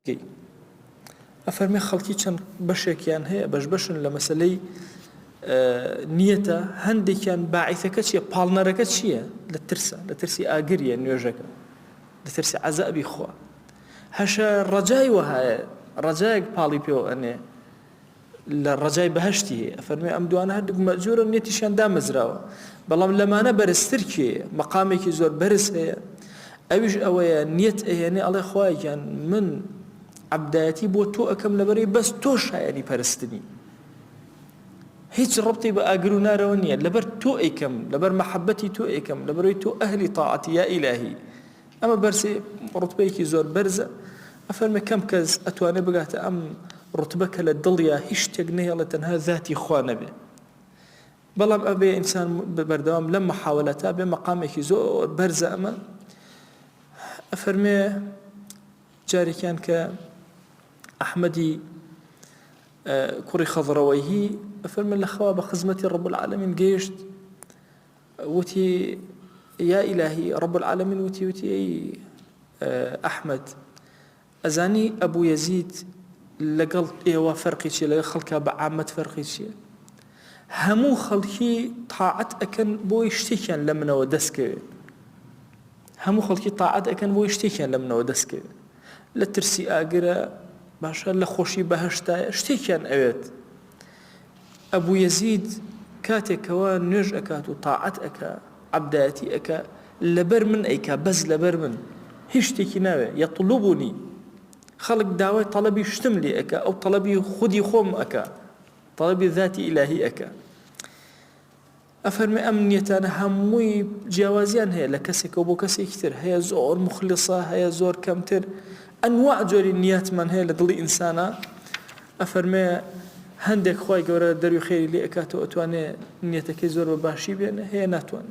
گەی. ئەفەرمێ خەڵکی چەند بەشێکیان هەیە بەش بەشن لە مەسلەی نیەتە هەندێکیان باعیثەکە چیە پاڵنەرەکە چییە لە ترسە لە ترسی ئاگریە نوێژەکە لە ترسی عەزابی خوا هەشە ڕەجای وەهایە ڕەجایەک پاڵی پێوە ئەنێ لە ڕەجای بەهەشتی هەیە ئەفەرموێ ئەم دوانە هەردووک مەئجورن نێتیشیان دامەزراوە بەڵام لەمانە بەرزتر کێیە مەقامێکی زۆر بەرز هەیە ئەویش ئەوەیە نیەت ئەهێنێ ئەڵێ خوای گیان من عەبدایەتی بۆ تۆ ئەکەم لەبەرەی بەس تۆ شایەنی پەرستنی هیچ ڕبتی بە ئاگر و نارەوە نییە لەبەر تۆ ئەیکەم لەبەر مەحەبەتی تۆ ئەیکەم لەبەرەوەی تۆ ئەهلی تاعەتی یا ئیلاهی ئەمە بەرزی ڕوتبەیەکی زۆر بەرزە ئەفەرمێ کەم کەس ئەتوانێ بگاتە ئەم ڕوتبە کە لە دڵیا هیچ شتێک نەهێڵێ تەنها زاتی خوا نەبێ بەڵام ئەبێ ئینسان بەردەوام لەم محاولەتا بێ مەقامێکی زۆر بەرزە ئەمە ئەفەرمێ جارێکیان کە ئەحمەدی کوڕی خەضڕەوەیهی ئەفەرمێ لە خەوا بە خزمەتی ڕەب العالمین گەیشت وتی، یا ئیلاهی، رب العالمین وتی وتی، ئەی ئەحمەد، ئەزانی ئەبو یەزید لەگەڵ ئێوە فەرقی چیە، لەگەڵ خەڵکا بە عامەت فەرقی چیە؟ هەموو خەڵکی تاعەت ئەکەن بۆی شتێکیان لە منەوە دەستکەوێ، هەموو خەڵکی تاعەت ئەکەن بۆی شتێکیان لە منەوە دەستکەوێ، لە ترسی ئاگرە، باشە لە خۆشی بەهەشتایە، شتێکیان ئەوێت. ئەبو یەزید کاتێک کەوا نوێژ ئەکات و تاعەت ئەکا عەبدایەتی ئەکا لەبەر من ئەیکا بەس لەبەر من هیچ شتێکی ناوێ یەطلوبنی خەڵک داوای تەڵەبی شتم لێ ئەکا ئەو تەڵەبی خودی خۆم ئەکا تەڵەبی ذاتی ئیلاهی ئەکا ئەفەرمێ ئەم نیەتانە هەمووی جیاوازیان هەیە لە کەسێکەوە بۆ کەسێکی تر هەیە زۆر موخلیصە هەیە زۆر کەمتر ئەنواع جۆری نیاتمان هەیە لە دڵی ئینسانا ئەفەرمێ هەندێک خوای گەورە دەروی خێری لێ ئەکاتەوە ئەتوانێ نیەتەکەی زۆر بە باشی بێنێ هەیە ناتوانێ